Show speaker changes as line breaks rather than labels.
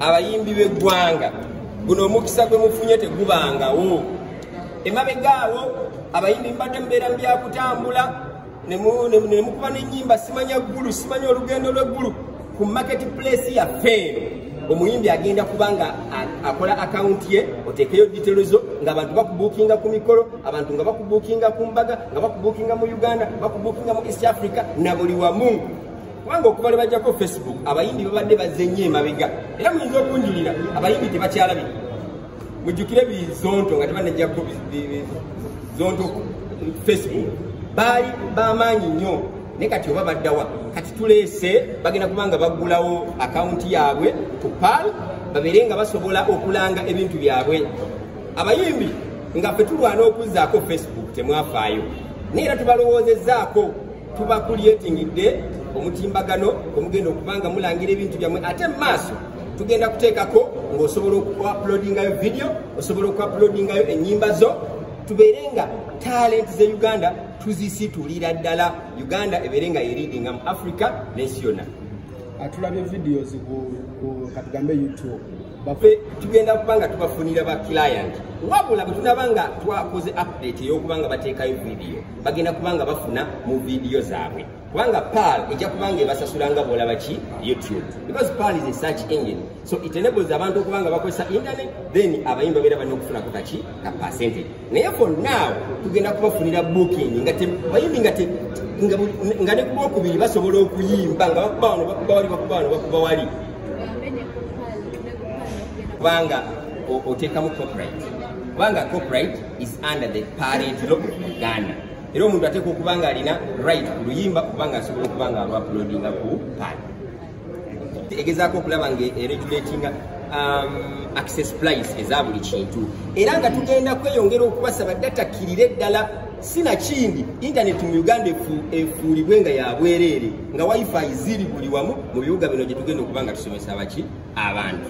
abayimbi b'eggwanga guno omukisa gwe mufunye tegubangawo emabegaawo abayimbi mbadde mubeera mu byakutambula nemukuba n'ennyimba simanya ggulu simanya olugendo lw'eggulu ku market place yaffe eno omuyimbi agenda kuba nga akola akawunti ye oteekeyo ditero zo nga abantu bakubuukinga ku mikolo abantu nga bakubuukinga ku mbaga nga bakubuukinga mu uganda bakubuukinga mu east africa na buli wamu kubanga okuva lwe bajjako facebook abayimbi babadde bazze nnyo emabega era muyinza okunjulira abayimbi tebakyalabika mujjukire bizonto nga tebanajjako zonto facebook baali bamaanyi nnyo naye kati oba baddawa kati tuleese bagenda kuba nga baggulawo akawunti yaabwe ku pal babeere nga basobola okulanga ebintu byabwe abayimbi nga fe tulwana okuzzaako facebook temwafaayo naye era tubalowoozezaako tuba kulyetingidde omutimbagano omugenda okubanga mulangira ebintu byammwe ate mu maaso tugenda kuteekako ng'osobola okuapulodingayo vidiyo osobola okuapulodingayo ennyimba zo tubeere nga talenti ze uganda tuzisitulira ddala uganda ebeere nga yeridinga mu africa n'ensi yonna atulabye ah,
vidiyo zikatugambe youtube bafe tugenda
kuba nga tubafunira ba client wabula bwe tunaba nga twakoze update ey'okuba nga bateekayo vidiyo bagenda kuba nga bafuna mu vidiyo zaabwe kubanga paal ejja kuba nga ebasasula nga bwolaba ki youtube because paal is a search engine so it enables abantu okuba nga bakozesa internet then abayimba beera balina okufunako kaki ka percentage naye for now tugenda kubafunira booking nga bayimbi nga nga ne kuba okubiri basobola okuyimba nga bakuba wano bakuba wali bakuba wano bakuba wali kubanga oteekamu copyright kubanga copyright is under the parent law of uganda era omuntu ateeka okuba nga alina right ku luyimba kubanga asobola okuba nga alwapulodinga ku paati egezaako okulaba nga eregulatinga um, access price eza buli kintu era nga tugenda kweyongera okubasaba datakkirire ddala sinakindi intaneti mu uganda efuulibwe nga yabwereere nga wifi ziri buli wamu mu bibuga bino gye tugenda okuba
nga
tusomesa
baki
abantu